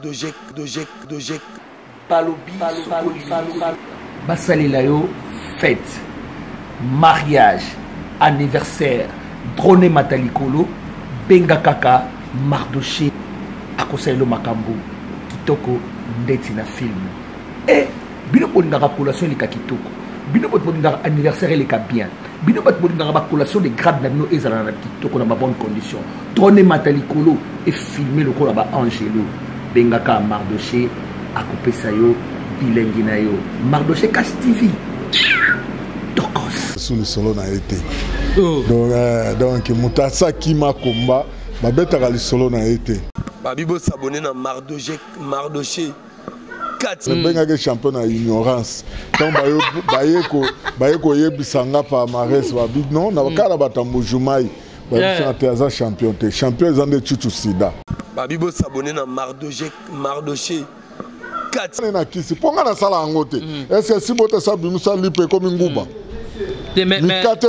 dojek dojek dojek balobi basalela yo fete mariage anniversaire drone mata likolo benga kaka mardoche akosalela makambo kitoko ndeti na filme e eh, bino bolingaka collation eleka kitoko bino bato bolingaka anniversaire eleka bien bino bato bolingaka bacollation de grade na bino ezala na kitoko na babonne condition trone mata likolo efilme lokola baangelo bengaka mardoche akopesa yo bilengi na yo mardoche cash tv tokos su lisolo na ye te oh. donc euh, moto asaki makomba babetaka lisolo na ye te babi bosabone na mardoche nabengaki mm. champion na ignorance ntango baye koyebisa nga palmarès babi non na mm. kala batambo jumai babisaka te aza champion te champion eza nde cucu sida babi bosabone na mardoche kati na kisi mpo ngai nasala yango te mm. eske esi botesa bimisa lipa ekomi nguba mikate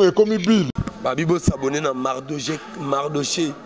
ekomi bile babi bosabone na mardoche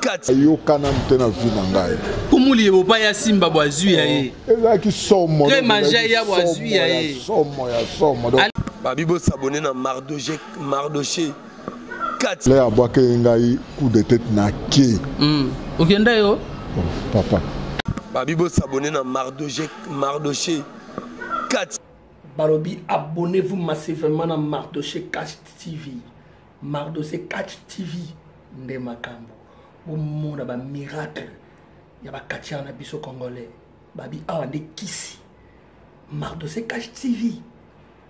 kati ayoka nanu te na vi na ngai kumuli ebopa ya simba bwa zwi ya ye oh, ezalaki somo tre manja ya bwa zwi ya ye somo ya somo babi bosabone na mardoche mardoche kati le abwaki ye ngai coup de tete na ke hmm. okenda yo oh, papa babi bosabone na mardoche mardoche kati balobi abonnez-vous massivement na mardoche cash tv mardose catch tv nde makambo bomona bamiracle ya bakatiare na biso congolais babi awa nde kisi mardose catch tv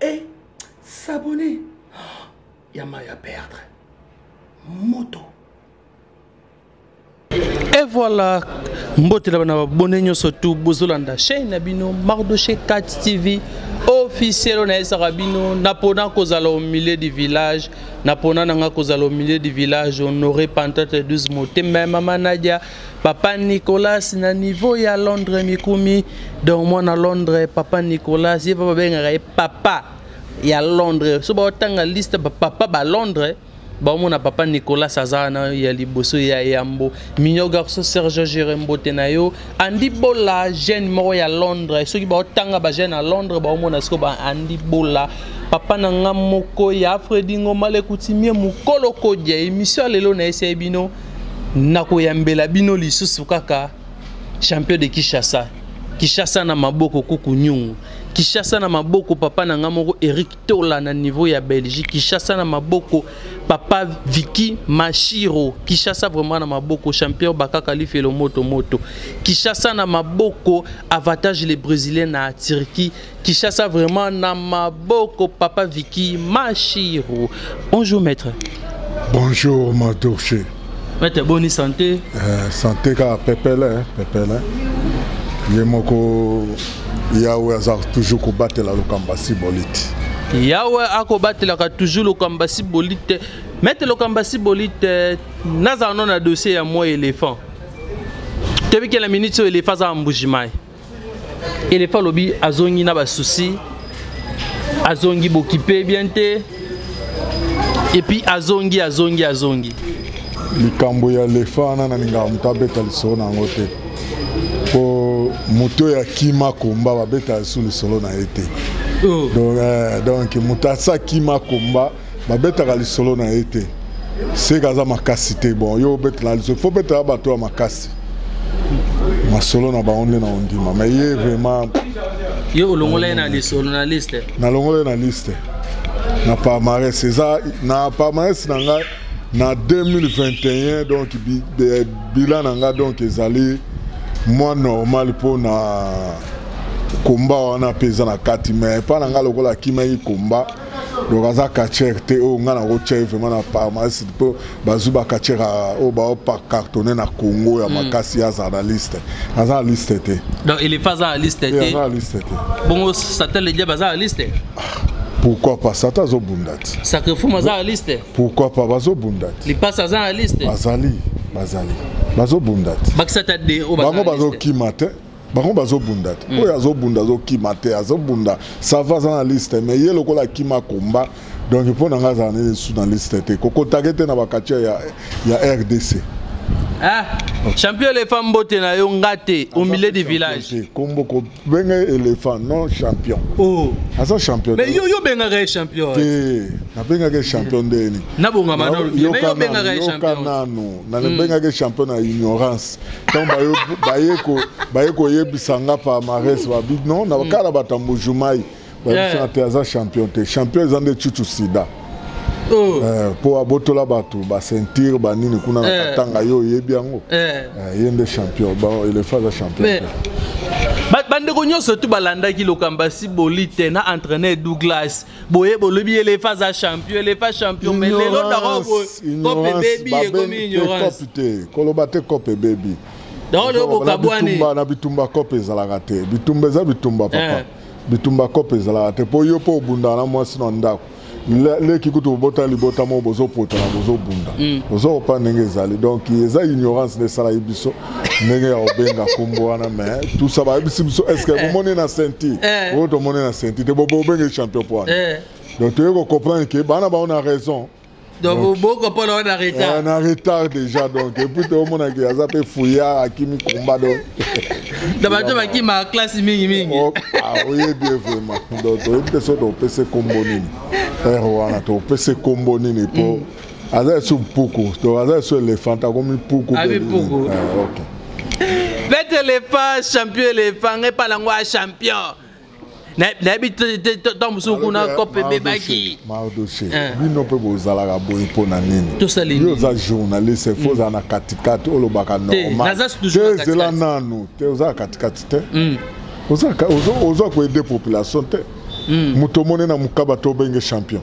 e eh, sabone ya mai ya perdre moto Et voilà, mbote na bana babone nyonso tu bozolanda chaîne na bino Mardoché 4 TV officiel na esaka bino napona kozala au milieu du village napona na nga kozala au milieu du village honore pantate 12 motema ya mama Nadia papa Nicolas na niveau ya Londres mikumi donc mwana Londres papa Nicolas ye babengaka ye papa ya Londres so baotanga liste bapapa ba Londres baomona papa nicolas aza wana ya liboso ya yambo mignon garçon serge jere mbote na yo andi bola jeune moko ya londres soki baotanga bajeune ya londres baomona siko ba andi bola papa na nga moko ya fredi ngoma lekutimie mokolo kodia emission ya lelo na esei bino nakoyambela bino lisusu kaka champion de kinshasa kinshasa na maboko kuku nyungu kinshasa na maboko papa na nga moko eric tola na niveau ya belgique kishasa na maboko papa viki mashiro kishasa vraiment na maboko champion bakaka lifelo moto moto kishasa na maboko avantage le brésilien na turquie kishasa vraiment na maboko papa viki mashiro bonjour maître bonjour madouche Mete boni santé? Eh, santé kaka pepele, eh, pepele. Eh. Ye moko Yahweh aza toujours kobatela lokamba si bolite. Yahweh akobatelaka toujours lokamba si bolite. Mete lokamba si bolite nazala no na dossier ya moi éléphant. Toyebi ke na minute oyo éléphant aza mbuji mai. elefa alobi azongi na basusi azongi bokipe bien te epuis azongi azongi azongi likambo ya lefa wana nalingaka moto abeta lisolo na yango te mpo moto oyo akima komba babeta lisu lisolo na ye te oh. donc, euh, donc moto asa akima komba babetaka lisolo na ye te seke aza makasi te bon yo obetela lisolo fo betela bato ya makasi masolo na bango nde na ondima mai ye vraiment yo olongola ye na lisolo na liste nalongola ye na liste na palmarès eza na palmarès na ngai na 2021 donc bilan na ngai donc ezali mwa normal mpo na komba wana mpe eza na kati mai epai na ngai lokola akimaki komba donc aza catcher te oyo ngai nakotya ye vraiment na pharmacie mpo bazwi bacatcher oyo baopa cartonne na congo ya hmm. makasi ye azala na liste aza na liste te donc elefa aza na liste te aza na liste te bongo satel ediab aza na liste pourquoi pas sata azobunda te sacrifume aza na liste pourquoi pas bazobunda te lipasi aza na liste bazali bazali bazobunda te bango bazokima te bango bazobunda te oyo azobunda azokima te azobunda sava aza na liste mais ye lokola akima komba donc mpo na ngai azala nini su na liste te kokotake te na bakature ya, ya rdc ah, champion elephant mbote na yo nga te au milieu du village kombo kobenga elephant non champion oh. aza champion mais yo yobengaka ye champion te nabengaka ye champion ndeni nabongamanano nanu nabengaka ye champion na ignorance ntango baye koyebisa nga palmarès babi non na kaka na batambo jumai bayebisaka te aza champion te champion eza nde cucu sida mpo oh. eh, abotola bato basentire banini kuna na eh. katanga yo oyebi yango eh. ye nde champion elefa aza champion bandeko nyonso tu balandaki lokambo ya siboli te na entraîneur douglas boye bolobi elefa aza champion elefa champion mais lelo dako boye cope ebebi ekomi ignorance koloba te cope ebebi dako lelo bokabwani na bitumba cope ezalaka te bitumba eza bitumba papa eh. bitumba cope ezalaka te mpo yo mpo obundaka na mwasi na ndako leki kutu bobota libota moko bozopotana bozobunda mm. ozokopa ndenge ezali donc eza ignorance nde esalaki biso ndenge ya obenga kombo wana me tusa bayebisi biso estce eh. bomoni na senti eh. oyo tomoni na senti te bobenge champion po wana eh. donc toyei kocomprendre ke bana bango na raison donc boko mpo na wana retard na retard déjà donc epuis tomonaki aza mpe fouillard akimi komba donc na bato bakima classe mingi mingi oh, ah, oyebi ye vraiment donc toyebi te so topese kombo nini ere wana topese kombo nini mpo mm. aza esu mpuku donc aza esu elefant akomi mpuku abi mpuku ah, okay. bete elephant champion elephant ngai pala ngo a champion nayebi ntango mosusu kuna kope ebebaki mardoche eh. bino mpe bozalaka boye mpo na nini yo oza journaliste fo ozala na katikati olobaka normalezela nanu te ozala katikati te hmm. oza koede population te hmm. moto omoni na mokaba to obenge champion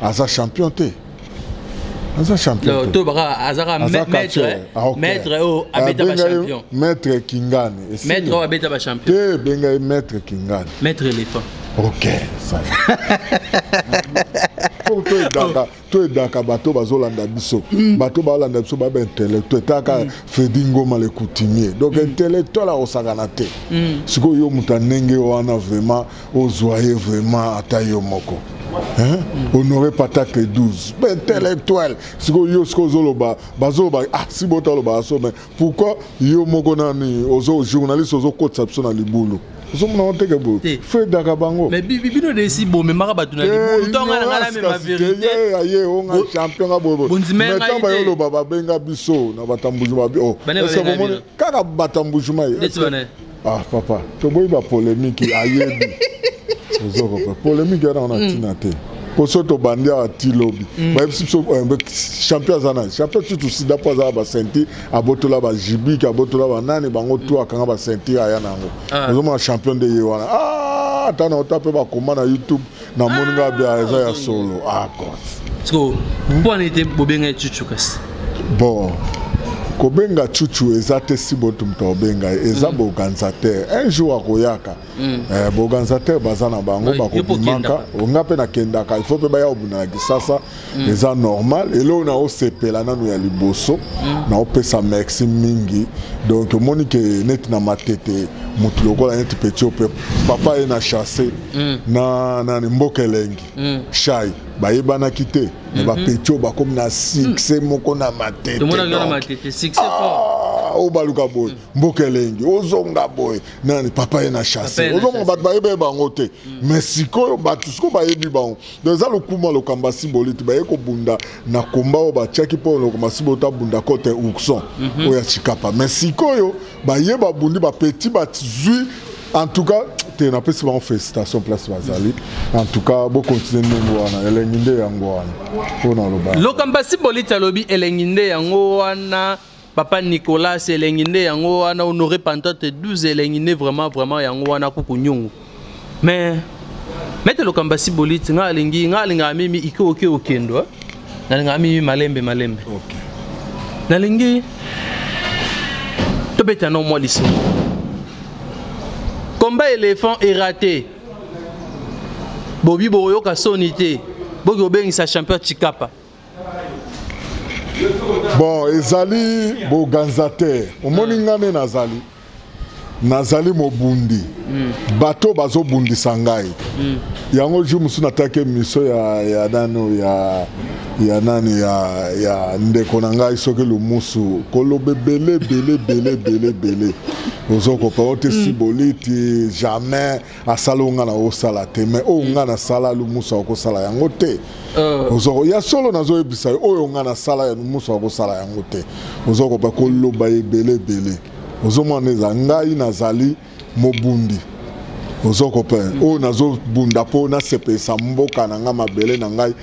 aza champion te aza champion te tobaka azaka maître ah, okay. maître oyo oh, ah, abeta ba champion maître kingani maître oyo abeta ba champion te benga ye maître kingani maître éléphant ok ça po to edaka to edaka bato bazolanda biso mm. bato balanda biso baba intellectuel taka mm. fredi ngoma le coutumier donc mm. intellectuel akosakana te sikoyo yo moto ya ndenge wana vraiment ozwa ye vraiment ata yo moko hein? Mm. honore patate 12 intellectuel sikoyo yo sikoyo ozoloba bazoloba ah si bota oloba aso mais pourquoi yo moko nani ozo journaliste ozokotisa biso na libulu ozomona oteke boye fedaka bango bino desi bomemaka bato na libulu to ngai na ngai namema verité aye onga champion nga boye mais ntango baye oloba babenga biso na batambujuma oh, kaka batambujuma ye Ah papa, toboyi ba polemique ayebi. Ozoko pa polemique yana ona mm. tina te. Poso to bandi a ti lobby. Mm. Ba biso so eh, champion zana, champion tu tu sida pa za ba senti abotola ba jibi ka abotola ba nani bango tu akanga ba senti aya nango. Ah. Ozoma champion de yewana. Ah, tana otape ba koma na YouTube. Na moni nga bia ah, eza ya solo. Ah quoi. Siko mpo na ete bobenga chuchu kasi. Bon. kobenga chuchu eza te si botu moto akobenga ye eza mm. boorganisateur un jour akoyaka mm. eh, boorganisateur baza na bango bakobimaka nga mpe nakendaka il faut mpe baya kobunda na kisasa mm. eza normal eloko na osepela nanu ya liboso mm. na opesa merci mingi donc omoni ke neti na matete motu lokola neti petit ope papa ye na chasse mm. na nani mboka elengi mm. shai bayebanaki te me mm -hmm. bapeti oyo bakomi na succès mm. moko na matete oyo baluka boye mm. mboka elengi ozonga boye nani papa ye na chasse ozonga bato bayebeye bango te mm. mais sikoyo bato sikoyo bayebi bango Donc eza lokuma lokamba simbolite baye kobunda na komba oyo batiaki mpo lokamba simbolite abunda kote ourson mm -hmm. oyo ya chikapa mais sikoyo baye babundi bapeti bazwi en tout cas te napesi bango félicitation place bazali mhm. en tout cas bokontinue ndenge wana elengi nde yango wana mpo naloba lokamba simbolite alobi elengi nde yango wana papa nicolas elengi nde yango wana honore pantate 12 elengi nde vraiment vraiment yango wana kuku nyongo mais mete lokamba si boliti ngai alingi ngai alingaka mimi ike oke okendo eh? nalingaka mimi malembe malembe okay. nalingi tobeta no mwa lisolo combat éléphant erate bobi bokoyoka soni te boki kobengisa champion chikapa bon ezali boganza te omoni nga nde nazali nazali mobundi mm. bato bazobundisa ngai mm. yango jour mosusu nataki emission ya, ya nano ya ya nani ya, ya ndeko na ngai soki lumusu koloba ebele ebele ebele ebele ebele ozokopa ote mm. siboliti jamais asala oyo ngai nakosala te mai oyo ngai nasala lumusu akosala yango te euh. ozoko ya solo nazoyebisa yo oyo ngai nasala ya lumusu akosala yango te ozokoba koloba ebele ebele ozomona eza ngai nazali mobundi ozokope oyo nazobunda mpo nasepelisa mboka na ngai mabele na ngai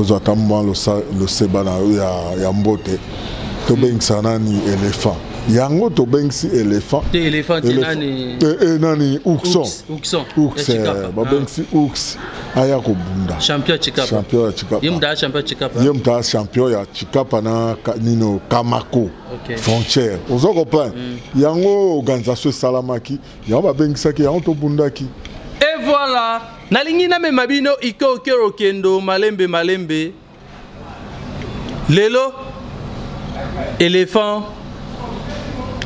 ozwa ata mwa loseba na yo ya, ya mbote tobengisa nani elephant yango tobengisi elephant te elephant te nani te eh, eh, nani ourson ourson ourson eh, babengisi ah. ours aya kobunda champion chikapa champion ya chikapa yemta ah, champion chikapa yemta champion ya chikapa na nino kamako okay. frontière ozo comprendre mm. yango organisation esalamaki yango babengisaki yango tobundaki et voilà nalingi namema bino ike okero okendo malembe malembe lelo elephant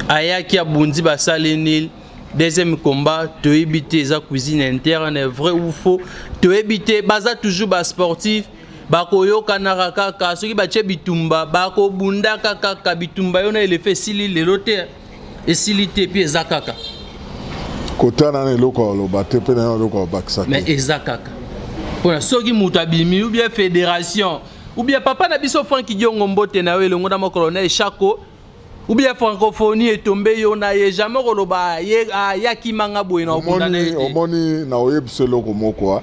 ayaki abundi basali nil deuxième combat toyebi te eza cuisine interne vrai ou faux toyebi te baza toujours basportif bakoyokanaka kaka soki batye bitumba bakobundaka kaka bitumba yo na elefa esili lelo te esili te mpe eza kaka kotana na eloko ya oloba te mpe na yo eloko ya bakisa te mais eza kaka mpona soki moto abimi ou bien fédération ou bien papa na biso franki diongo mbote na yo elongo na mokolo na eshako ou bien francophonie etombe yo na ye jamais koloba ayaki ah, manga boye na obunda na ye te omoni na oyebisa eloko moko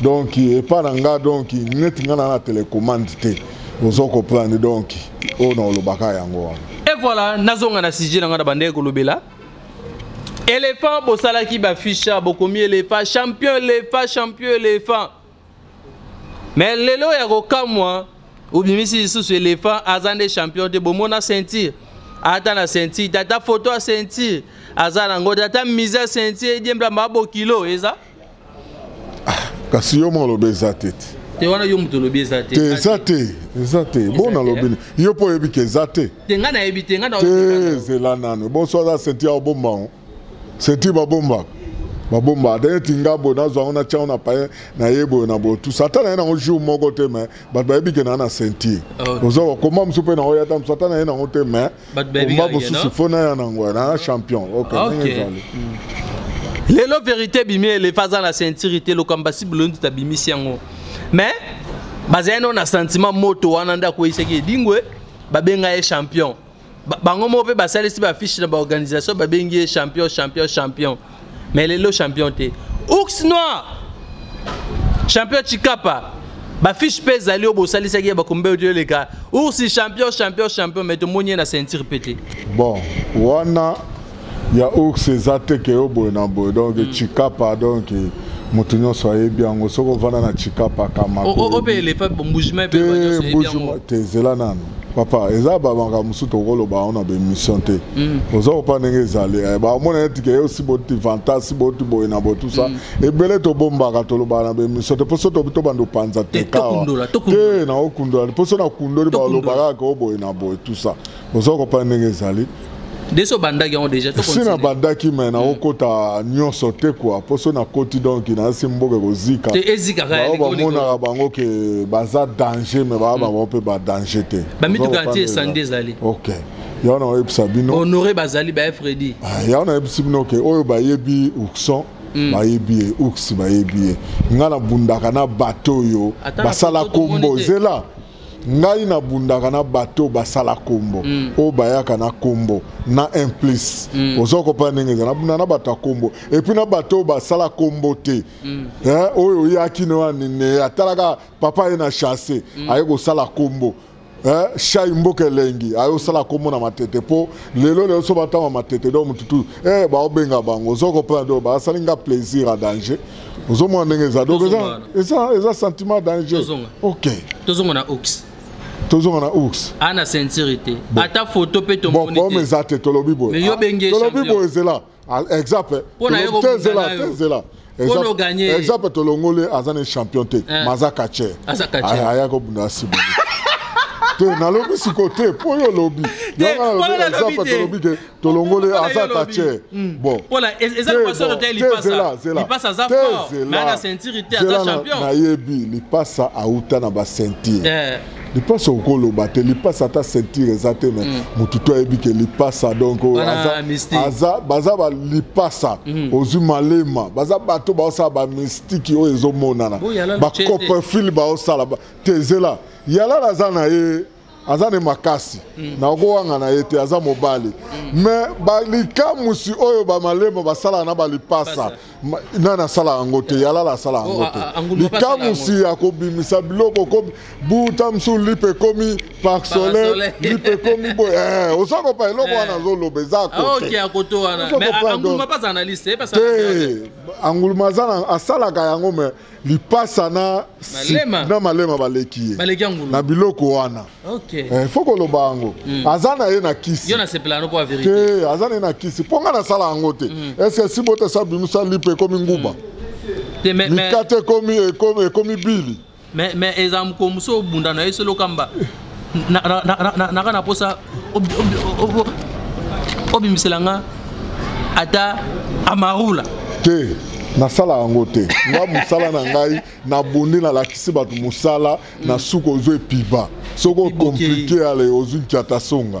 donc epa na nga donc neti nga na na telecommande te ozo comprendre donc oyo na olobaka yango wana et voilà nazonga na sujet na nga na bandeko kolobela éléphant bosalaki baficha bokomi éléphant champion éléphant champion éléphant mais lelo ya kokamwa obimisi lisusu éléphant aza nde champion te bomona ceinture ata na ceinture tata foto ya ceinture aza nango tata mise ya ceinture ediemblamba bokilo eza ah, kasi yo moko olobi eza te te te wana yo moto olobi eza te eza te eza te bo nalobi yo mpo oyebi ke eza te te ngai nayebi te ngai te zela nano bonso aza senti ya obomba yango senti babombaka babomba ata neti nga boye nazwa yango natya yango na paye na ye boye na boye tusa ata na ye nango jour moko te mai bato bayebi ke naa na ceinture oza bakoma mosusu mpe na oya ata mosusu ata na ye nango te mai komba mosusu fo naya nango na champion ok ndenge ezali lelo verité ebimi elefa aza na ceinture te lokamba sibulondi tabimisi yango mais bazali no na sentiment moto wana nde akweyisaki edingwe babenga ye champion bango moko mpe basalisi bafiche na baorganisation babengi ye champion champion champion mais lelo champion te ours noir champion chikapa bafiche mpe ezali oyo bosalisaki ya bakombe oyo toyoleka ours champion champion champion mais tomoni ye na ceinture mpe te bon wana ya ours eza te ke yo boye na boye donc mm. chikapa donc moto nyonso ayebi yango soki ovanda na chikapa kamate ezela nano papa eza bamaka mosusu tokoloba yango na baémission te mm. oza kopa ndenge ezali eh, bamona ete ke osi boti vantasi boti boye na botusa mm. ebele tobombaka tolobaka na baémission te mposo tobi tobanda opanza te kawa te naokundola mposo nakundoli balobaka kaka oboye na boye tusa oza kopa ndenge ezali deso bandaki yango deja si na bandaki me naokota hmm. nyonso te kua mpo so nakoti donk nayasi mboka ekozika bao bamonaka bango ke baza danger me baa hmm. bango mpe badanger te bamituka ti esandi ezali okay yango na oyebisa bino honore bazali baye fredi ah, yango nayebisi bino ke oyo bayebi ukson Mm. bayebi ye uks bayebi ye ngai nabundaka na bato oyo basala kombo zela ngai nabundaka na bato oyo basala kombo mm. oyo bayaka na kombo na implice mm. oza kopana ndenge eza nabunda na bato ya kombo epuis na bato oyo basala kombo te mm. eh, oyo oyaki no anine atalaka papa ye na chasse mm. aye kosala kombo eh, shai mboka elengi aye osala kombo na matete mpo lelo lelo so batanga matete do motutu eh, baobenga bango oza kopana do basali nga plaisir a danger ozomona ndenge eza donc eza eza eza sentiment danger ok tozonga na ox tozonga na ours a na ceinture te ata foto mpe tomonipome eza te tolobi boyetolobi boye ezela exemple tezela tezela exemple tolongoli aza na champion te eh. ma aza kacher aya kobunda asimo te nalobi sikoyo te mpo yo olobi tolobi ke tolongoli aza tache bon pona eza lokoso lote lipasa lipasa aza fort mais ana ceinture te aza champion nayebi lipasa auta na ba ceinture eh. lipasa okoloba te lipasa ata ceinture eza te mais motu hmm. to ayebi ke lipasa donc aza baza balipasa hmm. ozwi malema baza bato baosala bamystiki oyo ezomonana bacoprefile baosala te zela yalala aza na ye aza ne makasi mm. na okowanga na ye te aza mobali mm. me balikamusi oyo bamalemo basalaka na balipasa nani asala yango te yalala asala yango oh, te likamusi ya kobimisa biloko ko buta mosusu lipe ekomi parc solaire lipe ekomi boye eh, oza kopa eloko eh. wana azoloba eza koteanguluma aza asalaka yango me lipasa na malema, na malema baleki ye na biloko wana okay. eh, fo koloba yango mm. aza na ye na kisi te aza na ye na kisi mpo ngai nasala yango te mm. eske si botesa bimisa lipe ekomi nguba mm. mikate ekomi bili mais eza mokomuso obunda na ye solokamba naka na posa obimisela nga ata amarula te nasala yango te nga mosala na ngai nabondi nalakisi bato mosala na suka ozwa epiba soki okomplike ale ozwi nkiata songa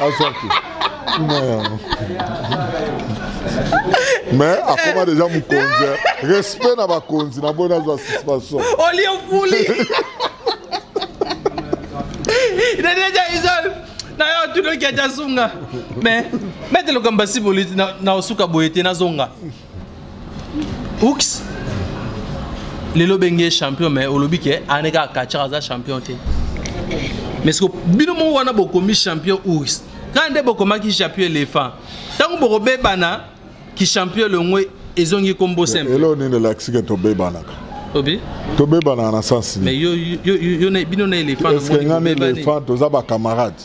azwaki mais akoma deja mokonzi respect na bakonzi na boye nazwa suspension olie ofuli deja isol na yo tunoki aja zunga mais mete lokambo ya siboliti na osuka boye te nazonga Ux lelo benge champion mais olobi ke ane kaka kacha aza champion te mais siko bino moko wana bokomi champion ours kaka nde bokomaki champion elephant ntango bokobebana kichampion longo ezongi nkombo simple elo nini elakisi ke tobebanaka obi tobebanaka na sens nini bino na elephant toza bacamarade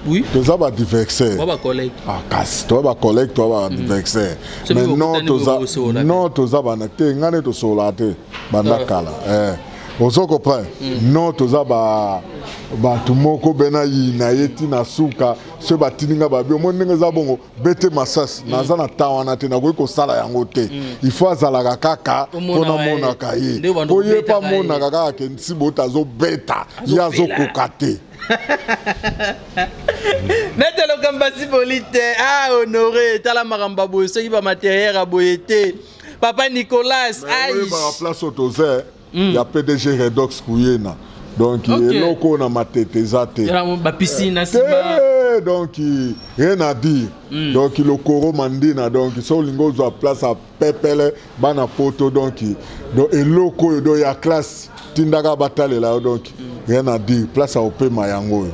Oui. toza badiversaire ah, kasi toza bacollègue toza badiversaire mm. mais non toza non toza bana te ngai nde tosololaka te banda ah. kala eh. ozo comprendre mm. non toza ba bato moko be na yina ye ti na suka soki batindi ngai babi omoni ndenge eza bongo bete masasi mm. naza na temps wana te nakoki kosala yango te mm. il faut azalaka kaka mpo namonaka ye mpo ye mpe amonaka kaka kensi bota azobeta ye azokoka te nete lokamba siboli te a ah, honore tala makambo ya boye soki bamateriel ya boye te papa nicolas aiplace oyo toza hmm. ya pdg redox kuyena donc eloko oyo na matete eza te donc rien à dire mm. donc lokoro mandina donc so olingi ozwa place pepele bana poto donc donc eloko oyo donc ya classe tindaka batalela yo donc rien à dire place ya kopema yango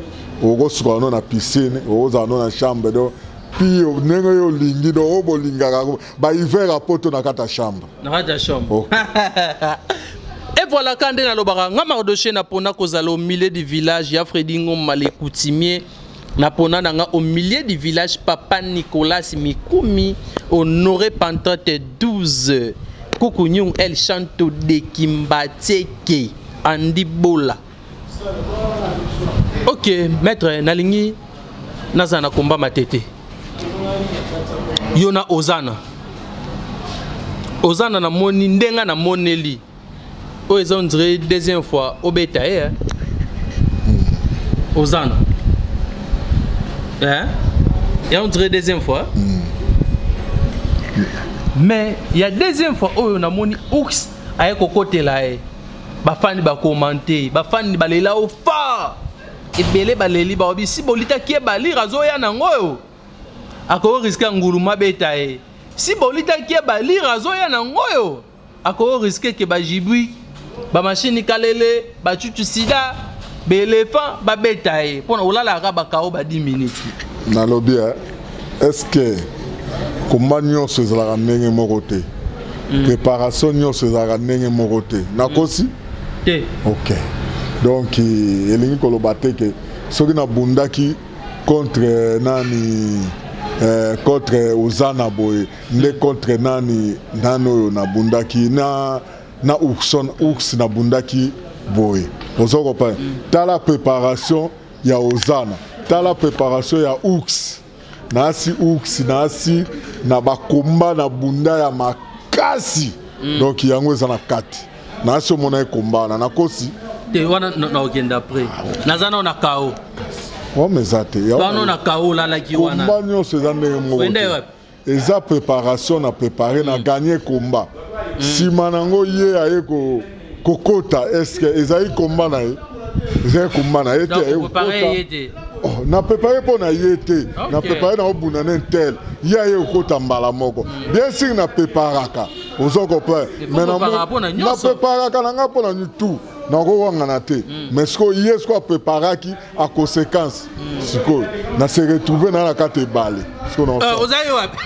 oyo okosuka yango na piscine okozala yango na chambre donc pio ndenge yo olingi donc oyo bolingaka bahiver ya poto na kati ya chambre na kati ya chambre oh. evolaka nde nalobaka nga mardoche napona kozala au milieu du village ya fredi ngoma le coutumier na pona na nga au milieu du village papa nicolas mikumi honore pantote 12 kukunyung el chanto de kimbateke andi bola ok maître nalingi nazala na komba matete yo na ozana ozana namoni ndenge namoneli oyo eza ondire deuxième fois obeta ye eh? ozana eh? ya ondire deuxième fois mm. mais ya deuxième fois oyo namoni ours aye kokotela ye bafani bakomante bafani balela o fa ebele baleli bao bisi bolitaki ye balire azoya nango oyo akoki riske ya nguluma beta ye si bolitaki ye balire azoya nango oyo ako risque que ba jibui ba machine kalele ba chuchu sida ba elephant ba beta ye pona olala ka ba kao ba 10 minutes nalobi hein? est-ce que komba nyonso ezalaka ndenge moko te mm. préparation nyonso ezalaka ndenge moko te nakosi mm. te ok donc elingi koloba te ke soki nabundaki contre nani eh, contre ozana boye nde contre nani nani oyo nabundaki na na ourson ours nabundaki boye oza kopana mm. tala préparation ya ozana tala préparation ya ours naasi ours naasi na bakomba na bunda ya makasi mm. donc yango eza na kati naasi omona ye komba wana nakosi te wana naokenda après ah, naza nao na kao wama eza te wana na kao olalaki wana komba nyonso eza ndenge moko eza préparation na prépare na gagne combat nsima na yango ye aye kokota estce ezali combat na ye ezali combat na ye te aye kokota Oh, na prépare mpo na ye te na prépare na obunda na intel ye aye okota mbala moko mm. bien sur na préparaka ozo comprendre mais na préparaka na ngai mpo na nitu nakowangana te mm. mais sikoyo ye sikoyo apreparaki a conséquence sikoyo na se retrouve na na kati ebale euh, ozali wapi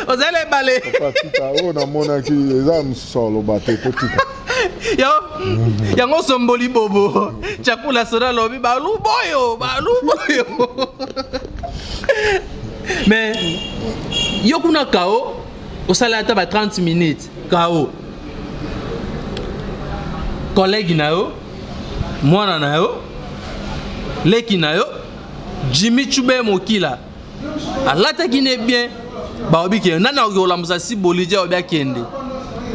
ozali ebale oyo namonaki eza mosusu aloba te totika yango osomboli bobo cakula soda alobi baluboyo baluboyo mais yo kuna kao osala ata ba 30 minutes kao collègue na yo mwana na yo leki na yo jimi chube mokila alataki ne bien baobi kende nani akoki kolamusa si bolidie obi akende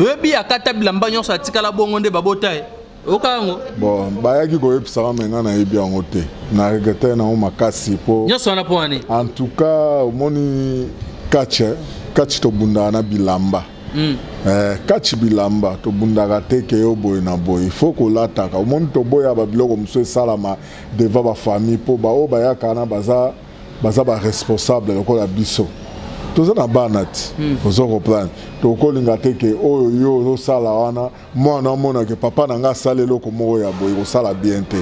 oyebi akata bilamba nyonso atikala bongo nde babota ye oyoka yango bon bayaki koyebisaka me ngai nayebi yango te na regrete yango makasi po nyonso wana mpo wani en tout cas omoni kache kache tobundaka na bilamba Mm. Eh, kachi bilamba tobundaka te ke yo boye na boye ifo kolataka omoni toboya babiloko mosusu esalama devant bafamille mpo baoyo bayaka na baza baza baresponsable lokola biso toza na bana ti mm. ozo comprendre tokolinga te ke oyo yo ozosala wana mwana amona ke papa na ngai asala eloko moko ya boye kosala bien te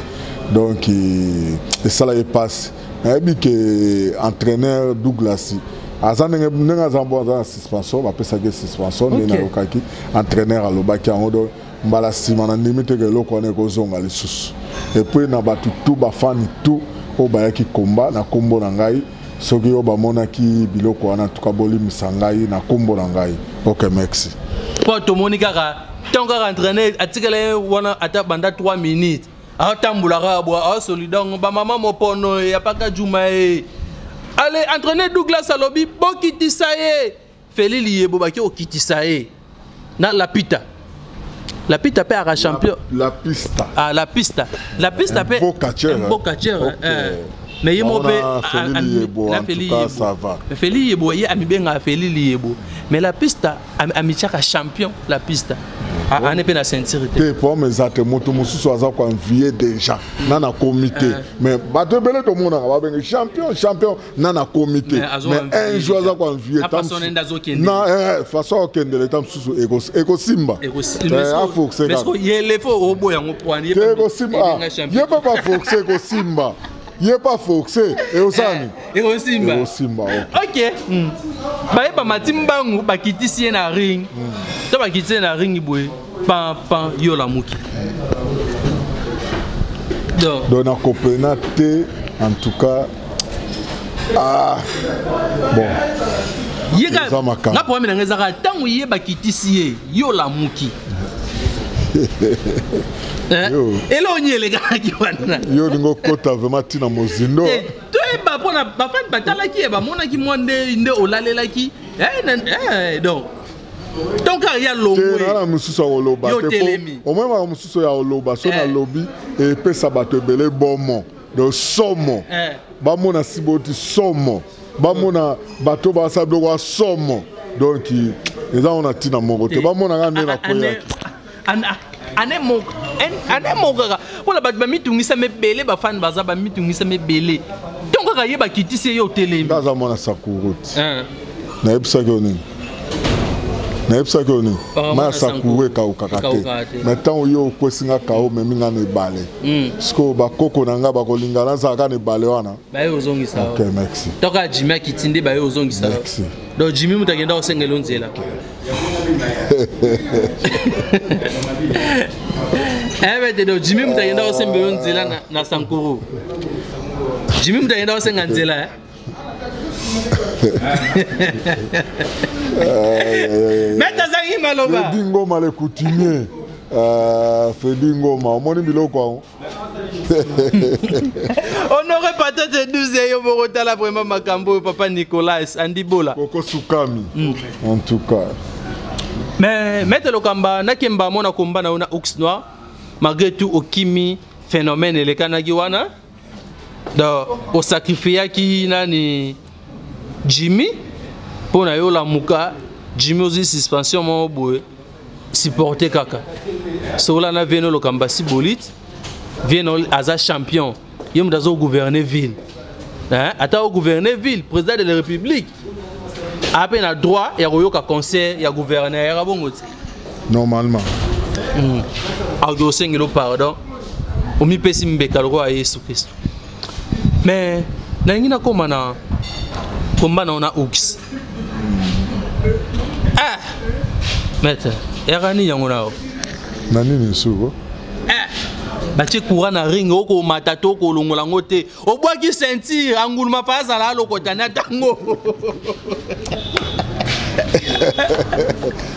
donc euh, esala ye mpasi nayebi ke entraîneur douglas aza ndenge ndenge aza mpo aza na suspension bapesaki ye suspension nde nayokaki entraîneur alobaki yango donc mbala nsima na ndimi te ke eloko wana ekozonga lisusu epuis na bato tu bafani tu oyo bayaki komba na nkombo na ngai soki yo bamonaki biloko wana tuka bolimisa ngai na nkombo na ngai ok merci mpo tomoni kaka ntango kaka entraîner atikala ye wana ata banda 3 minutes atambola kaka bwa asolida yango bamama mopono ye apaka juma ye ale entraîner douglas alobi bokitisa ye Feli Liyebo baki okitisa ye na Lapita. Lapita pe aka champion. La, la pista. Ah la pista. La pista pe. Beau catcheur. Beau catcheur. Okay. Euh, mais ye mo pe la Feli Yebo. Ça va. Mais Feli Yebo ye amibenga Feli Liyebo. Mais la pista amichaka champion la pista. ane mpe na ceinture te problème eza te moto mosusu aza koanvie déjà na na comité mais bato ebele tomonaka babenge champion champion na nakomi te mais un jour aza koenvie na eh, façon akokendela eta mosusu ekosimba aforceekosimba ye mpe baforce ekosimba ye mpe force eosani eh, ekosimba ok hmm. bayeba mati mbangu bakitisi ye na ring hmm. to bakitisi ye na ring boye pan pan yo olamuki donc donc nakopena te en tout cas ah bon yeka nga problème na nga ezaka ntango ye bakitisi ye ye olamuki eh? elongi elekanaki wana yo olingi okota vraimen ntina mozindo eh, toyeba mpona bafani batalaki ye bamonaki mwa nde nde olalelaki eh, donc tonkari ya longwena mosusu ya koloba te omoi maka mosusu ya koloba so eh. nalobi epesa bato ebele bomo do somo eh. bamona siboti somo bamona bato basala biloko ya somo donk eza ngo na ntina moko te eh. bamonaka nde na koyaki anemokaka mpona bato bamitungisama ebele bafani baza bamitungisama ebele ntongo kaka ye bakitisi ye otelemi aza mwana sakuruti eh. nayebisaki yo nini nayebisaki yo nini oh, mai ya sakuru ekaukaka te mai ntango yo okwesi nga kao memi nga na ebale hmm. sikoyo bakoko na nga bakolinga nazala kaka na ebale wana baye ozongisa ok merci toka jimi akiti nde baye ozongisa donc jimi moto akenda kosengela yo nzela ebe eh, te do jimi moto akenda kosemba yo nzela na sankuru jimi moto akenda kosenga nzela eh? mete azangi maloba fedi ngoma le coutumier euh, fedi ngoma omoni biloko yango honore patate 12 ya yo moko tala vraiment makambo oyo papa nicolas andibola okosukami mm. en tout cas mais maître lokamba nakemba amona komba na yo na ox noir malgré tout okimi phénomène elekanaki wana donc osacrifiaki nani jimmy mpo na yo olamuka jimmy ozwi suspension moko boye supporter kaka sola na vieno lokamba si bolite vieno aza champion ye moto azo gouverne ville hein? ata ogouverne ville président de la république ape na droit ya koyoka conseil ya gouverneur yaka bongo te normalement hmm. aoki osengeli pardon omipesi mbeka lokola yesu kristo mais nalingi nakoma na komba nao na ox ah! maître yaka nini yango nao na nini suko ah! batie courant na ring okomata to okolongola yango te obwaki ceinture anguluma fa azala alokotani atango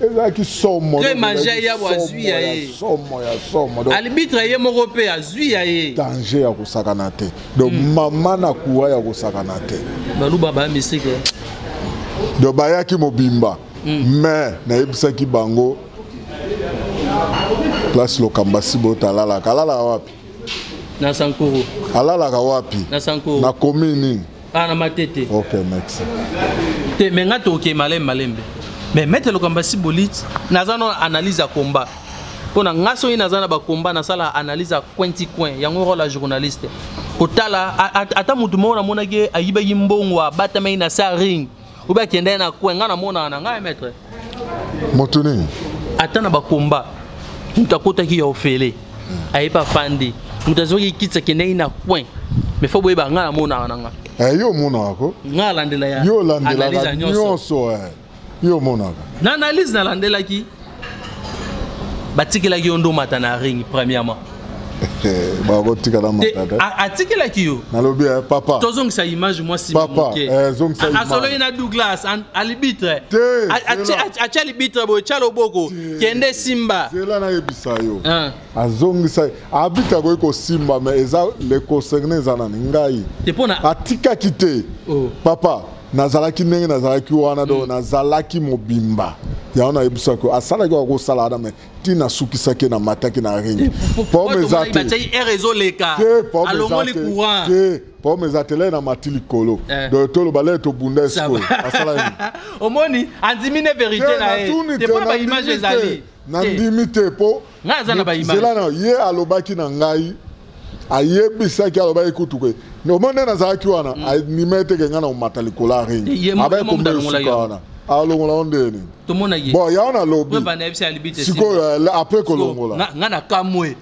ezalaki somo très manger ya azwi ya ye somo ya somo donc arbitre ye moko pe azwi ya ye danger ya kosakana te donc mm. mama na kuwa ya kosakana te baluba ba mystique donc bayaki mobimba mm. mais nayebisaki bango place lokamba sibota alalaka alalaka wapi na sankuru alalaka wapi na sankuru na commune Ah, na matete. Ok, merci. Te, mais nga toke malembe malembe. Mais maître Lokamba si bolite, naza no analyse ya combat. Mpo na nga soki naza na bakomba nasala analyse ya coin ti coin yango role ya journaliste kotala ata motu moko namonaki ayibaki mbongo abatamaki na sa ring oyo bakendaki na coin ngai namonaka na ngai maître moto nini ata na bakomba moto akotaki ya ofele ayebi afandi moto azwaki kiti akendaki na coin mais fo boyeba ngai namonaka na ngai eh, yo omonaka ko ngai alandela ya yo olandelaka nyonso eh. yo omonaka na analyse nalandelaki batikelaki yo nde omata na ring premièrement bakotika na matata atikelaki yo nalobi eh, papa tozongisa image mwa sima moke eh, asololi na douglas alibitre atya alibitre boye tya loboko kende simba zela nayebisa yo ah. azongisa abitre akoki kosimba me eza le concerne eza nani ngai atikaki te oh. papa nazalaki ndenge nazalaki wana donc mm. nazalaki mobimba yango nayebisaki yo asalaki kaka kosala wana me ti nasukisaki na mataki na ringi pome eza te pome eza te lei na mati likolo eh. donc toloba lei tobunda esikoyo asala omoni andimi ne verité na ye te mpo na baimage ezali nandimi te mpo nzela na ye alobaki na ngai ayebisaki alobaki kutu ke omo nde nazalaki wana mm. andima ete ke ngai na omata likolo ya ringi abaki komba esuka wana alongola yo ndenge nini bon yango nalobi sikoyo apres kolongola ngai nakamwe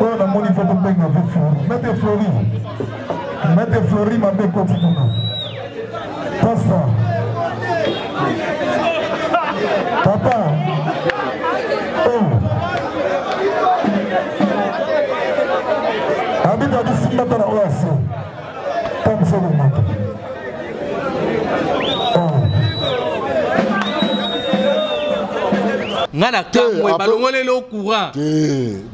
oyo namoni fo tobenga mpe flori mete flori mete flori mabe ekoti kuna pasta papa oh. abita bisimbata na oyo ase tamisa komata nga na kamwe balongoleli o courant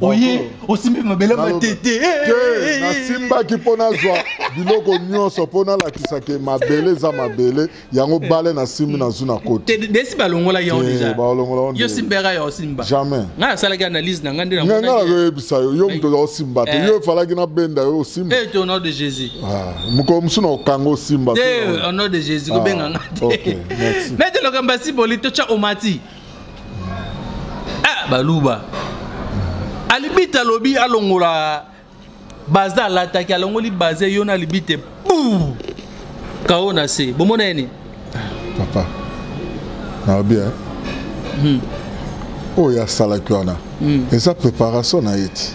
oye osimbi mabele matete eh, eh, te eh, nasimbaki mpo nazwa biloko nyonso mpo nalakisa ke mabele eza mabele yango bale nasimbi nazwi na koti desi balongola yango deja balongola yo simbaka ya osimba jamais ngai nasalaki analyse na ngai nde ngai nakoyebisa yo yo moto osimba te yo efalaki nabenda yo osimba te au nom de jésus ah, mokolo mosusu na okanga osimba te au nom de jésus kobenga ah, ngai te mais te lokambo ya siboli totya omati ah baluba alibita alobi alongola baza alataki alongoli baza yo na alibite buu kao na se bomona ye nini papa naobi eh? hmm. oyo asalaki wana mm. eza préparation na ye ti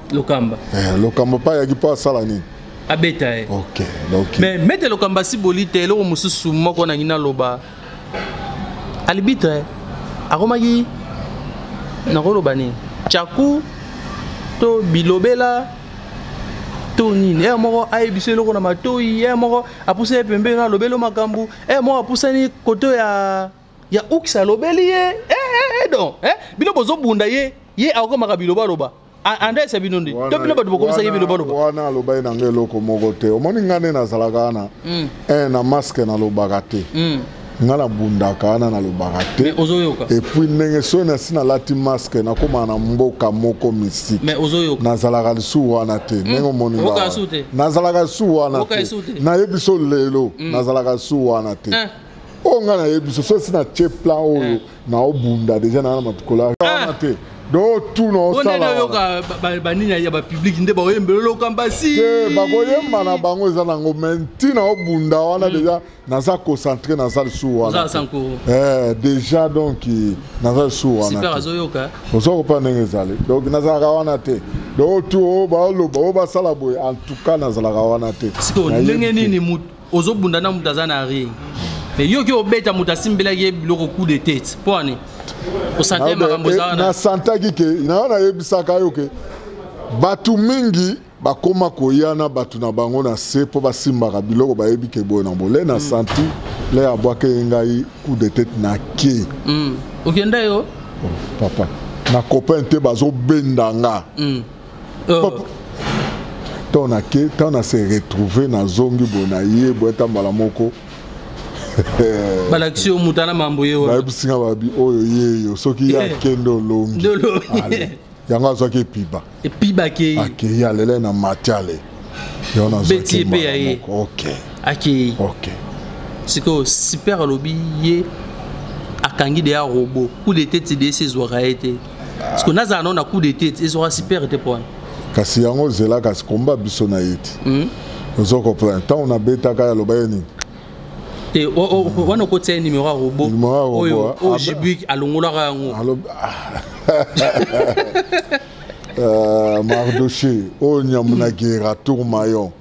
Lokamba. Eh, Lokamba pa yaki pa sala nini? Abeta ye. OK. Donc Mais mete Lokamba si bolite eloko mususu moko na ngina loba. Alibitre akomaki nakoloba nini? Chaku to bilobela to nini ere moko ayebisa eloko na matoi ere moko apusa ye pembeni na alobeli makambo ere moko apusani koto ya ya uks alobeli ye eh, eh, eh, don eh? bino bozobunda ye ye akomaka bilobaloba andres ya bino nde to bino bato bokomisaki bino baloba wana alobaki na ngai eloko moko te omoni ngai nde nazalaka wana mm. eh, na maske nalobaka te mm. ngai nabundaka wana nalobaka te epuis ndenge soki nasi nalati maske nakómaa na mboka moko misike nazalaka lisusu wana te hmm. ndenge omoni nazalaka lisusu wana te nayebi so lelo hmm. nazalaka lisusu wana te eh. oyo ngai nayebi so soki nasi natie plan oyo eh. naobunda deja naa na matukolo ah. wana te do tuna osalaoyoka banini ya bapubliki nde baoyembeloloka mbasi te bakoyemba na bango eza nango me ntina obunda wana hmm. deja naza concentre naza lisusu wana eh, deja donc naza lisusu wana oza kopa ndenge ezali donc nazalaka wana te donc tu oyo baoloba oyo basala boye en tout cas nazalaka wana te ndenge nini ozo bunda na mutu aza na ring mais yo ki obeta mutu asimbelaki ye biloko coup de tete mpo ani osante ah, makambo eza eh, wana nasantaki ke na wana ayebisaka yo ke bato mingi bakoma koya na bato na bango na se mpo basimbaka biloko bayebi ke boye na bole na mm. santi mm. le abwake ye ngai coup de tete na ke mm. okenda yo oh, papa na copain te bazobenda nga mm. oh. ntango nake ntango na se retrouve nazongi boye naye boye ata mbala moko balakisi yo mutana mambo ye bayebisi nga babi oyo yeyo soki ye eh. akende olongi yango azwaki epiba epibaki ye akeyi alele na matiale yango nazwaki ye mpe ya ye akeyi sikoyo super alobi ye akangi deya robo coup de tete desi ezwaka ye te parce que nazala nao na coup de tete ezwaka super te mpo wana kasi yango ozela kasi komba biso na ye te hmm? ozo comprendre ntango nabetaka ya loba ye nini te wana okotia ye numero ya robo oyo ah, jibik alongolaka yango euh, mardoche oyo nyambu na gera tour mayon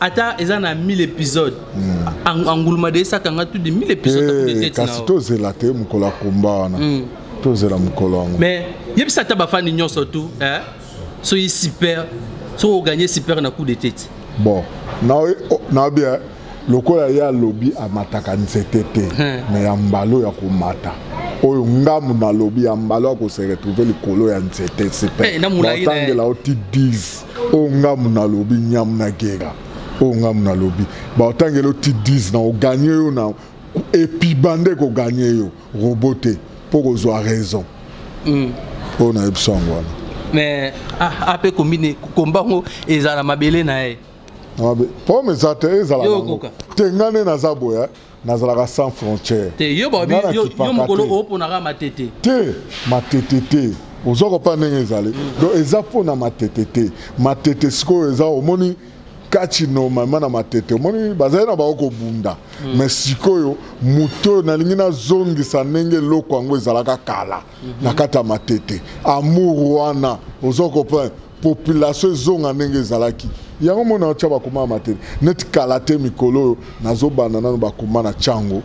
ata eza na 1000 episode hmm. anguluma de esakanga tu de 1000 episode eh, kasi tozela te mokolo ya komba wana hmm. tozela mokolo yango mais yebisa ata bafani nyonso tu eh? soki super soki oganye super na coup de tete bon naobi eh, lokola ye alobi amataka nzete te hmm. me ya mbalo ya komata oyo ngambo nalobi ya mbalo ya koseretrouve likolo ya nzete sipetangela oti 10 oyo ngambo nalobi nyamu na gera oyo ngambo nalobi baotangela oti 10 na oganye yo na epiba nde koganye yo robo te mpo kozwa raison mm. oyo na yebiso yango wana mais ah, ape kombine komba yango ezala mabele na ye problème eza te ezala te nga nde naza boya nazalaka sans frontière te yo mokolo oponaka matete te matete te oza kopa ndenge ezali mm. donc eza mpona matete te matete sikoyo eza omoni kati normalement na matete omoni bazali na bango kobunda mm. mais sikoyo moto oyo nalingi nazongisa ndenge eloko yango ezalaka kala mhm. na kati ya matete amour wana ozo comprendre population ezonga ndenge ezalaki yango mona otya bakoma ya matete neti kala te mikolo oyo nazobanda nano bakoma na chango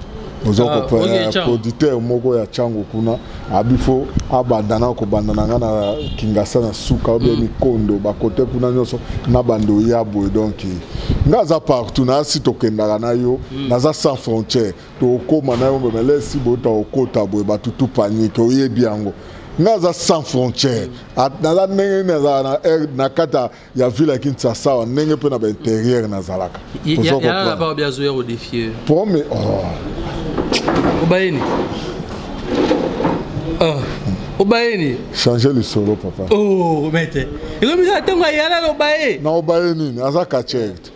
ozo ah, comprendre producteur moko ya chango kuna abifo abanda na kobanda na ngai na kingasa na suka obe mm. mikondo bakote kuna nyonso na banda oya boye donc ngai aza partout nasi tokendaka na yo mm. naza sans frontière tokoma na yo meme lesi bota okota boye bato tu panike oyebi yango nga aza sans frontière naza ndenge nini azala na kati ya ville ya kinshasa awa ndenge mpe na bainterieur nazalaka pome oh. obayeni ah. obayeni change lisolo papa oh, mete ekomisa ntango ayalala obaye na obaye nini aza katierte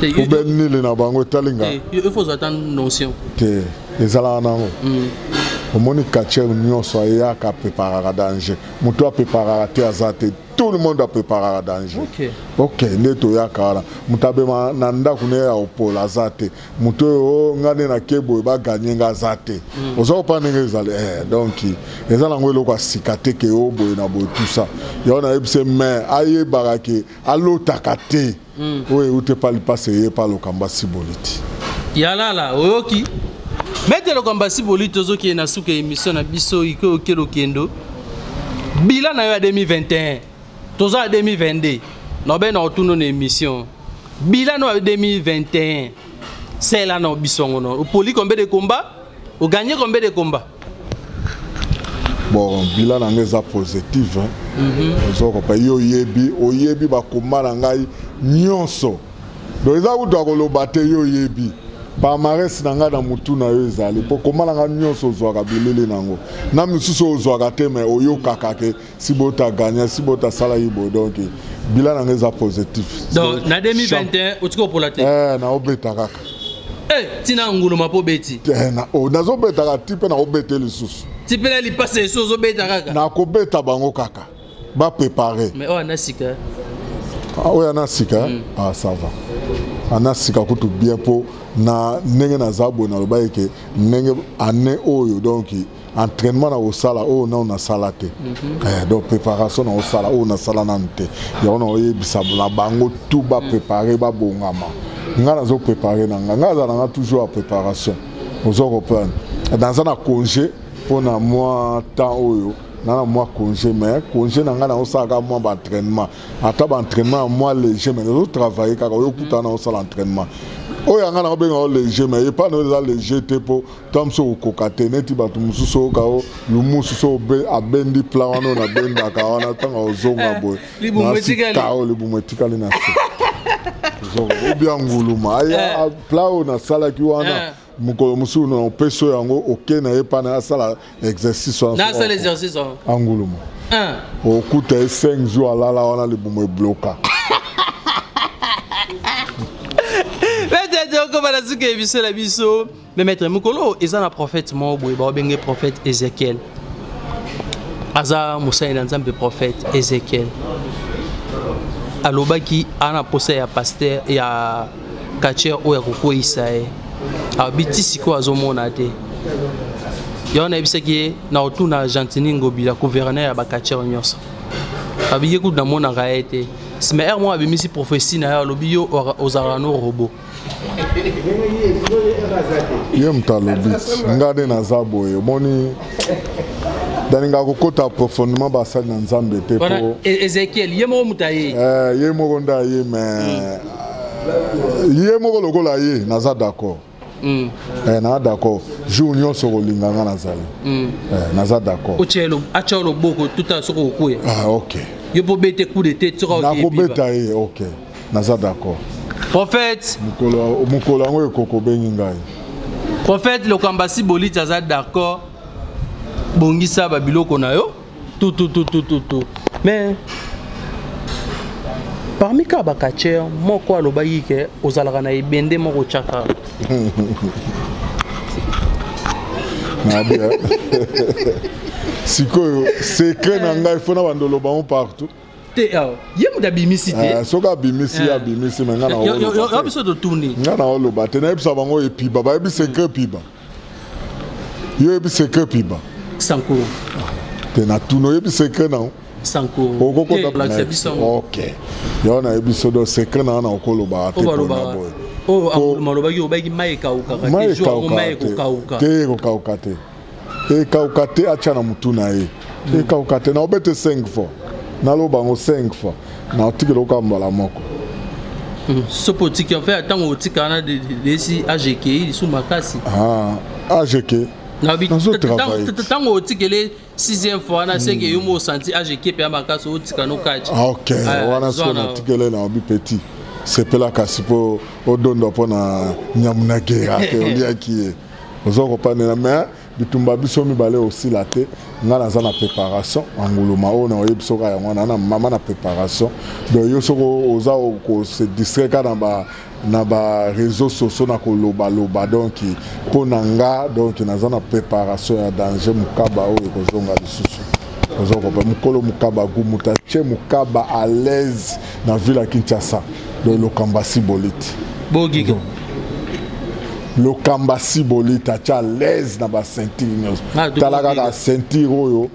poubelle nini na bango etali nga te ezalaka nango hmm. omoni katier nyonso ayaka apreparaka danger moto apreparaka te aza te tout le monde apreparaka danger ok nde toyaka wana moto abema na ndako ne ya opola aza te moto oyo oh, ngai nde nake boye baganye ngai aza te hmm. oza kopa ndenge ezali eh, donc eza nango eloko ya sika te ke o oh, boye na boye tusa yango nayebisi mai ayebaka ke alotaka te mm. oyo eute pa lipasa eye pa lokamba siboliti yalala oyoki mete lokamba siboliti ozokende na suka ya émission na biso ike oke lokendo bila na yo ya 2021 toza ya 2022 nobe na otundo na émission bila na yo ya 2021 sela na biso yango no opoli kombe de combat o gagne combien de combat bon bila na ngai eza positive hein. mm -hmm. ozokopa ye oyebi oyebi bakoma na ngai nyonso donc eza kutu akoloba te ye oyebi palmarès na ngai na motu na yo ezali mpo koma na ngai nyonso ozwaka bilili na yango na misusu ozwaka te mai oyokaka ke si bota gagna si bota sala ye boye donc bilan na ngai eza positif donc na 2021 otiki opola te eh, naobeta kaka eh, ntina nguluma mpo obeti eh, oh, nazobeta kaka ti mpe nakobete lisusu ti mpe na lipasa esu ozobeta kaka nakobeta bango kaka baprépare mais oyo ana sika ah, oyo ana sika mm. ah, ça va ana sika kutu bien mpo na ndenge naza boye nalobaki ke ndenge année oyo donki entraînement na kosala oyo oh, nano nasala te mhm. eh, donc préparation na kosala oyo oh, nasala nanu te yango na koyebisa na bango tout baprépare babongama ngai nazo prépare na ngai ngai azala na ngai toujours ya préparation ozo comprendre naza na congé mpo na mwa temps oyo na na mwa congé mais congé na ngai naosalaka mwa baentraînement ata baentraînement ya mwa léger mais nazotravaille kaka oyo okutana naosala entraînement oyo yanga na obenga o léger mais epa na oyo eza léger te mpo to mosusu okokoka te neti bato mosusu oyoka o lumusu so abendi plan wana oyo nabendaka wana ntango ozonga eh, boye nasikao libumu etikali na se obia nguluma aya eh. plan oyo nasalaki wana eh. mokolo mosusu na opesi oyo yango oke na ye mpana asala exercice wanaanguluma okuta ye 5 jour alala wana libumu ebloka petete okobana suka ebiso na biso Mais maître mukolo eza na prophète moko boye ba benge prophète Ezekiel. Aza mosali na Nzambe prophète Ezekiel. Alobaki ana posa ya pasteur ya catcheur oyo akokweyisa ye. Abi ti sikoyo azomona te. Yango nayebisaki ye na otuna Gentini Ngobila gouverneur ya ba catcheur nyonso. Abi ye kutu namonaka ye te. Sima ere moko abimisi prophetie na yo alobi yo ozalaka no robot. ye moto alobi nga nde naza boye omoni nalinga kokota profondement basali na nzambe te po e-, ezekiel ye moko moto aye eh, ye moko nde aye me hmm. ye moko lokola ye naza d'accord hmm. eh, naza d'accord jour nyonso kolinga nga nazali hmm. eh, naza d'accord atya loboko tuta soki okokuya ah, ok yo mpo obete coup de tete soki nakobeta ye ok naza d'accord prophète mokolo yango ekoko obengi ngai prophète lokambasi boliti aza d'accord bongisa babiloko na yo tutututututu mais parmi kaka bakacher moko alobaki ke ozalaka na ebende moko tyaka sikoyo secret na ngai fona bandolobango partout te awa euh, ye moto abimisi te eh, soki abimisi ye eh. abimisi me ngai nayo biso totuni ngai naoloba te nayebisa bango epiba bayebi sekre epiba yo oyebi sekre epiba sankuru te natuni oyebi sekre nao okokotablakisa biso ok yango nayebi so do sekre na wana okoloba te mpona boye oyo alobaki obaki mai ekaukaka te mai ekokauka te ekauka te atya na motu na ye hmm. ekauka te naobete 5 fois naloba yango 5 fois naotikela oka mbala moko hmm. soki otiki enfe ntango otika wana lesi agekei lisu makasi ah, ageke ntango otikele sixième fois na seke yo mo osanti ageke mpe ya makasi otika nokati ah, ok ah, wana soki natikele na obi petit sepela kasi mpo odondwa mpo na nyamu na gera te oliaki ye oza kopanela mais bitumba biso mibale osila te ngai naza na préparation anguluma oyo naoyebi soka yango wana na mama na préparation donc yo soki oza kose distraire ka na ba na ba réseaux sociaux na kolobaloba donc mpo na nga donc naza na préparation ya danger mokaba oyo ekozonga lisusu oza kopa mokolo mokaba gumuta ce mokaba à l'aise na ville ya kinshasa donc lokamba sibolite bogiko lokamba sibolite atya alaise na baceinture nyonso ah, tala kaka ceinture oyo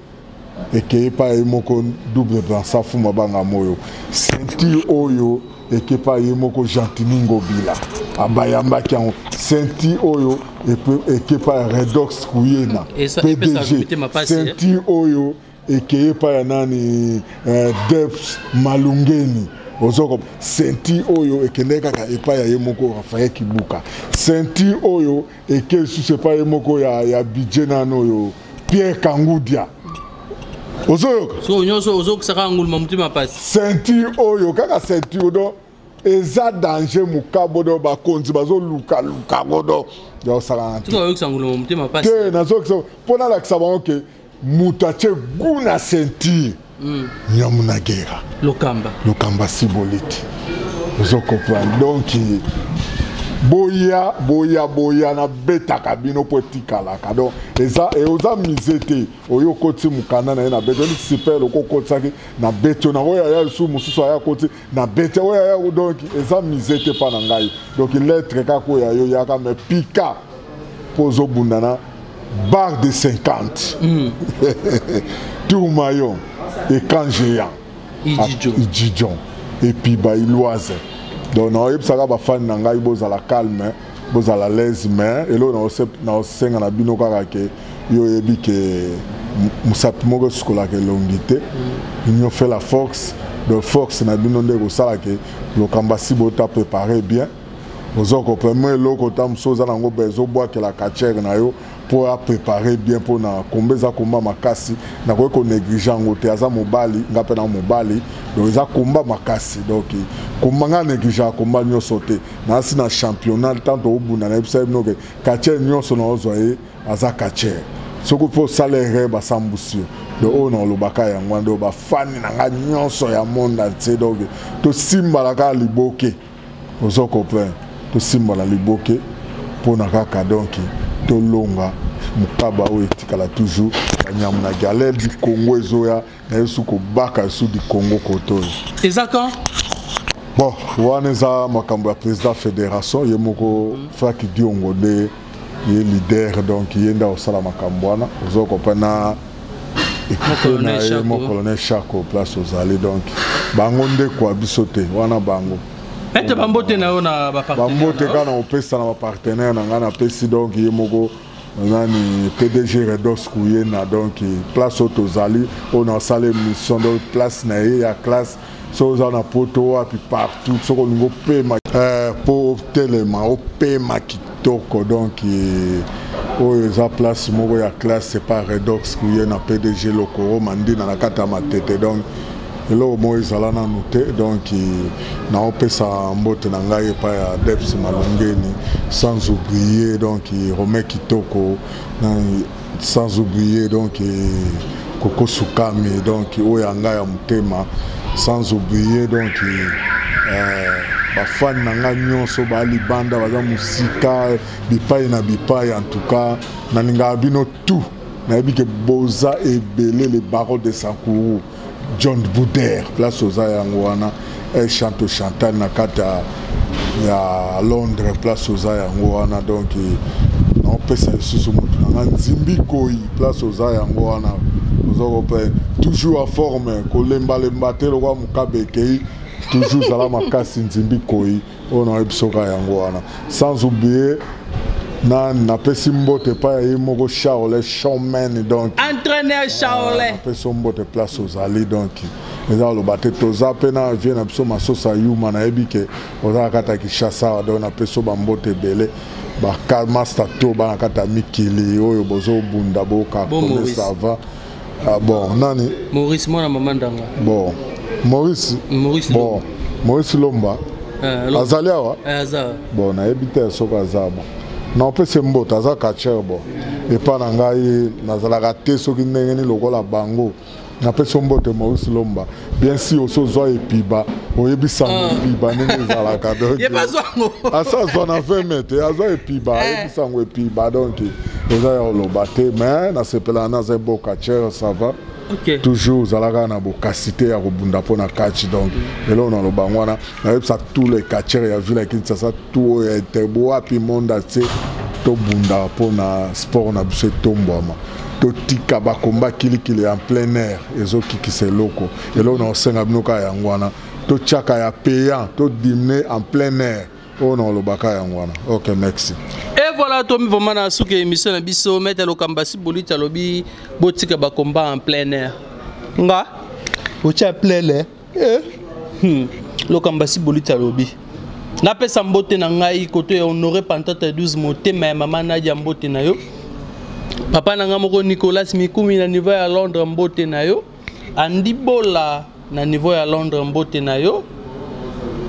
ekei epai ye moko double bransa fuma banga moyo ceinture oyo ekei epai ye moko gentini ngobila abayambaki yango ceinture oyo ekei epai redox kuyena pdg ceinture oyo ekeye epai ya nani eh, deps malungeni ozoko senti oyo ekendeki kaka epai ya ye moko rafael kibuka senti oyo eke lisusu epai ye moko ya, ya budget nano oyo pierre kangudia ozoyoka so nyonso ozokisaka nguluma motema pasi senti oyo kaka senti odo eza danger mukabodo bakonzi bazoluka luka godo yaosalana te nazokisa mpo nalakisa bango ke moto atye gu na sentire hmm. nyamu na gera lokamba lokamba siboliti ozo comprendre donc boya boya boya nabetaka bino mpo etikalaka donc eza e, oza mise te oyo okoti mokanda na ye na beti oni sipele okokotisaki na beti ona oyo aya lisusu mosusu aya koti na bete oyo ya yo donc eza mise te mpa na ngai donc lettre kaka oyo ya yo yaka me pika mpo ozobunda na barre de 50 mm. tourma yo écran géant ijijon epuis bailoise donc naoyebisaka bafani na ngai bozala calme bozala laise mais eloko naosenga na bino kaka ke yo oyebi ke mosapi moko esukolaka elongi te union fait la force donc force na bino nde ekosala ke lokambo asi bota prépare bien oza koprema eloko ota mosusu oza nango ba ezobwakela kachere na yo mpo aprépare bien mpo na komba eza komba makasi nakoki konéglige yango te aza mobali nga mpe na mobali donc eza komba makasi donc komba nga négligea komba nyonso te nasi na championnat ntanto obunda na yebisa ye bino ke kachere nyonso naozwa ye aza catcheur soki mpo osala erreur basambusi yo donc oyo na olobaka yango wana donc bafani na ngai nyonso ya monde entier donc tosimbala kaka liboke ozo comprendre tosimbala liboke mpona kaka donc tolonga mokaba oyo etikala toujours banyama na galere du congo ezoya naye su kobaka su du congo kote oyo eza quand bon wana eza makambo ya président fédération ye moko frank diongo nde ye leader donc ye nde akosala makambo wana ozo kopana ekipe na ye mo colonel chako place ozali donc bango nde kwa biso te wana bango ete bambote na yo na bambote kaka na kopesa na bapartenaire na ngai napesi donc ye moko nani pdg redos kuyena donc place oyo tozali oyo nasala émission donc place na ye ya classe soki oza na poto wapi partout soki olingi opema mpo eh, otelema opema kitoko donc eh, oyo eza place moko ya classe epa redox kuye na pdg lokoro mandina na kati ya matete donc eloko moko ezala nanu te donc naopesa mbote na ngai epai ya deps malongeni sans oublier donc romain kitoko sans oublier donc koko sukami donc oyo ya ngai ya motema sans oublier donc euh, bafani na ngai nyonso baa libanda baza mosika bipai na bipai en tout cas nalingaka bino tout nayebi ke boza ebele le baron de sankuru John Bouder place oza yango wana El Chanto Chantal na kati ya Londres place oza yango wana donc naopesa lisusu motu na nga nzimbi koi place oza yango wana oza kopene toujours a forme kolembalemba te lokola mokabe ekei toujours zala makasi nzimbi koi oyo nayebi biso kaka yango wana sans oublier na napesi mbote epai ya ye moko charle showman donc entraîneur charle ah, napesi mbote place ozali donc eza koloba te toza mpe na vie na biso masosa yuma nayebi ke ozala kati ya kinshasa donc napesi bambote ebele bakalmasta to bana kati ya mikili oyo bozobunda bokakomesava ah bon nani maurice mwana mama ndanga bon maurice maurice bon maurice lomba eh, azali awa eh, aza bon nayebi te soki aza bon na opesi mboto aza catcher bon epai na ngai nazalaka te soki ndenge nini lokola bango napesi mboto maurice lomba bien sûr oso zwa epiba oyebisa ngo ah. epiba ndenge ezalaka donc asa azwa na 20 mai te azwa epiba eh. ayebisa ngo epiba donc eza ya oloba te mais nasepelaka naza eboka chere ça va okay. toujours ozalaka na bokasi te ya kobunda mpo na catch donc eloo naloba yango wana nayebisa tout le catcheur ya ville ya kinshasa tout oyo ya etebo wapi monde atie tobundaka mpo na sport na biso etombwama totika bakomba kilikili ya plein air ezokikisa eloko eloko na kosenga bino kaka yango wana totyaka ya payant todimne en plein air oyo na kolobaka yango wana ok merci e voilà tomi vraimen na suki ya émission na biso maître lokambasi boliti alobi botika bakomba en plein air nga otya plein air eh. hmm. lokambasi bolita lobi napesa mbote na ngai koto ya honore pantata 12 motema ya mama nadia mbote na yo papa na ngai moko nicolas mikumi na niveau ya londres mbote na yo andi bola na niveau ya londres mbote na yo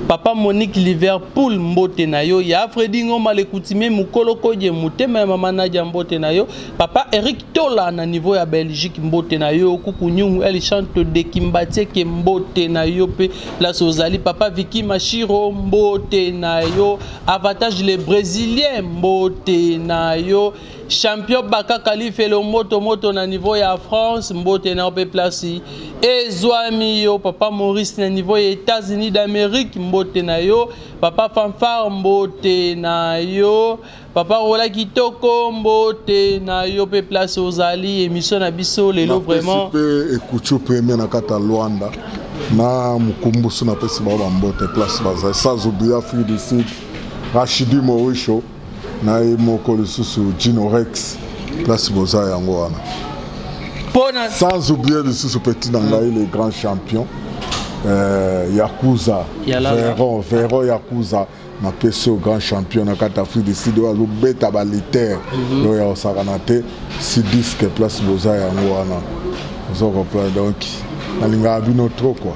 papa monique liverpool mbote na yo ya fredi ngoma lekutime mokolo kodie motema ya mama nadia mbote na yo Papa Eric Tola na niveau ya Belgique mbote na yo kuku nyungu el chante de kimbatie ke mbote na yo pe place ozali papa Vicky Mashiro mbote na yo avantage le brésilien mbote na yo champion Baka Kalifelo moto moto na niveau ya France mbote na yo pe place ezwami yo papa Maurice na niveau ya États-Unis d'Amérique mbote na yo papa Fanfare mbote na yo Papa Rola Kitoko mbote na yo pe place ozali emission na biso lelo vraiment. Pe ekuchu premier na kata Luanda na mukumbusu na pesi ba ba mbote place baza sans oublier Afrique du Sud Rachidi Morisho na ye moko lisusu Gino Rex place boza yango wana. Pona sans oublier lisusu petit na ngai le grand champion euh, Yakuza Veron Veron Yakuza napesi yo grand champion na kati afrique du sud oyo azobeta baliter mhm. oyo ya kosakana te si diske place boza yango wana oza kopla donc nalingaka bino trop kua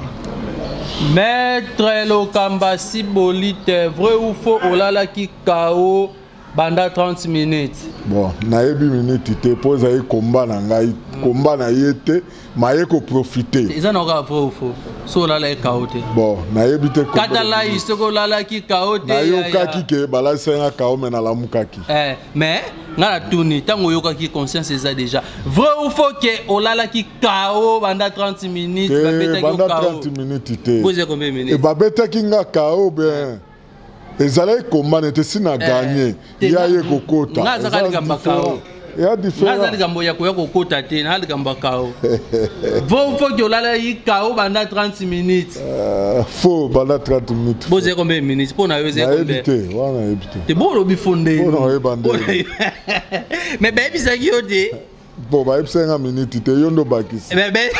maître lokamba sibolite vrai ou faux olalaki kao banda 30 minutes bon nayebi minute te mpo ezali komba na ngai komba na ye te maye koprofite eza na okaa vrai fo so olalaki kao te bon nayebi te katalai soki olalaki kao te nayokaki ke balalisa nga kao me nalamukaki eh, mais nga na tuni ntango oyokaki conscience eza déjà vrai ou faux ke olalaki kao banda 30 minutes babetaki kao 30 minutes te babetaki nga kao bien ezalaki komana ete si na eh, ganye ye aye kokota naza likambo ya koya kokota te na likambo ya kao vo foki olalaki kao banda 30 minutes eh, fo banda 30 minutes bozali kombe minutes mpo na yo ezali te wana yebi te te bo olobi fo nde mais bayebisaki yo te Bon, bah, il y a minute, tu es yondo bakis. Mais, mais...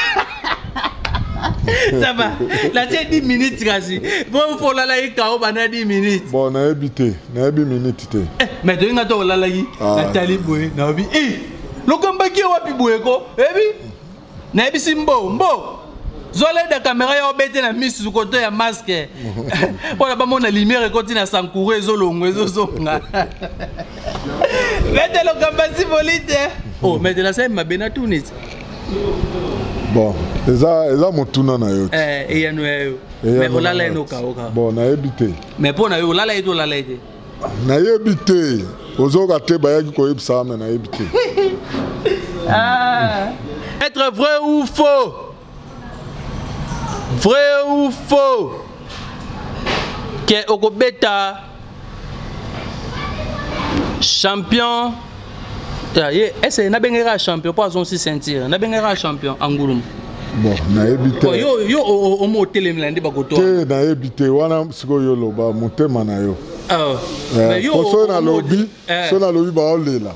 ça va natie 10 minutes kasi po olalaki kao banda 10 minutes bon nayebi te nayebi minute te eh, mais toyinga to olalaki ah. natali boye nayebi e eh, lokombaki ye wapi boye ko eyebi nayebisi mbo mbo zoleda kamera ya obete na misu koto ya maske mpo na bamona lumière ekoti na sankouro ezolongo ezozonga mete lokambasi bolite o oh, mete nasali mabe na tunisi bon eza eza motuna na yo eh, eyano ya yo me olala ye nokaoka bon nayebi te me mpo na yo olala ye te olala ye te nayebi te ozoka te bayaki koyebisa ame nayebi te ah. être vrai ou faux vrai ou faux ke okobeta champion Ya ye ese nabengeli kaka champion mpo azongisi ceinture nabengeli kaka champion angulumu bon nayebi te oh, yo yo omo otelemela nde bakoto te nayebi te wana sikoyo oloba motema na yo ah, eh, po soki nalobi eh. soki nalobi baolela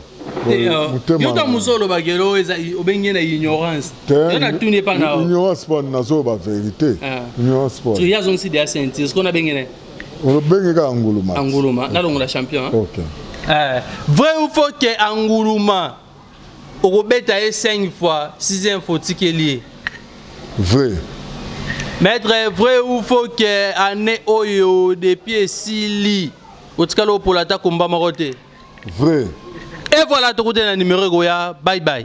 eh, oh. yo ntango mosusu olobaki elo obengi na ignorance yo natuni epa na ignorance po nazoloba verité ignorance po ye azongisi de ya ceinture sikoyo nabengene olobenge kaka anguluma anguluma nalongola champion okay. eh, vrai ou faux ke anguluma okobeta ye 5 fois 6 fois otikeli ye vrai maître vrai ou faux ke année oyo depuis esili otikali opola ata komba moko te vrai e voilà tokuti na numero ekoya bye bye